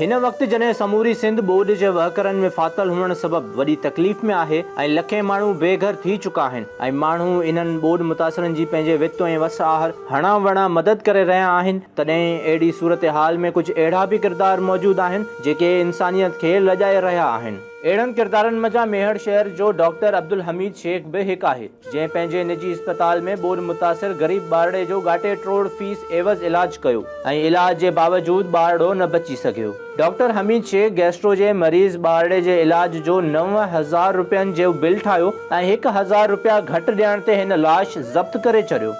هن وقت جڏهن سموري سنڌ ٻوڏ جي وهڪرن ۾ ڦاٿل هئڻ سبب وڏي تڪليف ۾ آهي ۽ لکين ماڻهو بي گهر ٿي چڪا آهن ۽ ماڻهو انهن ٻوڏ متاثرن جي پنهنجي وت ۽ وس آهر هڻان وڻان مدد ڪري رهيا آهن تڏهن اهڙي صورتحال ۾ ڪجهه اهڙا به ڪردار موجود آهن جيڪي انسانيت کي لڄائي رهيا آهن. اهڙن ڪردارن منجهان ميهڙ شهر جو ڊاڪٽر عبدالحميد شيخ به هڪ آهي، جنهن پنهنجي نجي اسپتال ۾ ٻوڏ متاثر غريب ٻارڙي جو ڳاٽي ٽروڙ فيس عيوض علاج ڪيو، ۽ علاج جي باوجود ٻارڙو نه بچي سگهيو، ڊاڪٽر حميد شيخ گيسٽرو جي مريض ٻارڙي جي علاج جو نو هزار روپين جيو بل ٺاهيو ۽ هڪ هزار روپيا گهٽ ڏيڻ تي هن لاش ضبط ڪري چڏيو.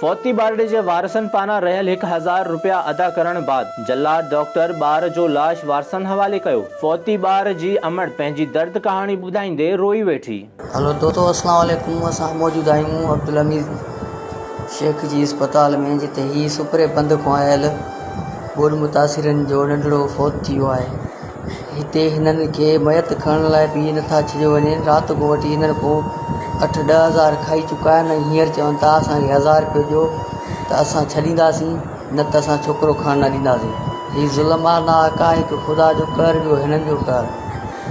فوتي ٻارڙي جي وارثن پاران رهيل هڪ هزار رپيا ادا ڪرڻ بعد جلاد ڊاڪٽر ٻار جو لاش وارثن حوالي ڪيو، فوتي ٻار جي امڙ پنهنجي درد ڪهاڻي ٻڌائيندي روئي ويٺي. هلو دوستو السلام عليڪم اسان موجود آهيون عبدالحميد شيخ جي اسپتال ۾ جتي هي سپري بند کان آيل ٻوڏ متاثرين جو ننڍڙو فوت ٿي ويو آهي هتي هنن کي ميت کڻڻ لاء بيهي نٿا ڇڏيو وڃين. رات کان وٺي هنن ڪو اٺ ڏهه هزار کائي چڪا آهن ۽ هينئر چون ٿا اسان کي هزار رپيو ڏيو ته اسان ڇڏينداسين نه ته اسان ڇوڪرو کڻڻ نه ڏينداسين. هي ظلم آهي نه آقا هڪ خدا جو قهر ٻيو هنن جو قهر.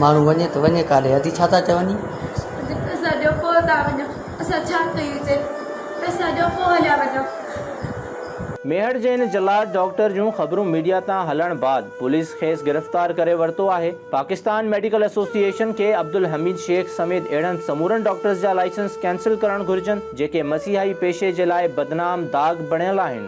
ماڻهو وڃي ته وڃي ڪاڏي؟ ادي ڇا ٿا چون هي؟ پئسا ڏيو پوء ٿا وڃون. اسان ڇا ڪيون چي پئسا ڏيو پوء هليا وڃو. ميهڙ جي هن جلاد ڊاڪٽر جون خبرون ميڊيا تان هلڻ بعد پوليس کيس گرفتار ڪري ورتو آهي. پاڪستان ميڊيڪل ايسوسيئيشن کي عبدالحميد شيخ سميت اهڙن سمورن ڊاڪٽرز جا لائسنس ڪينسل ڪرڻ گهرجن جيڪي مسيحائي پيشي جي لاء بدنام داغ بڻيل آهن.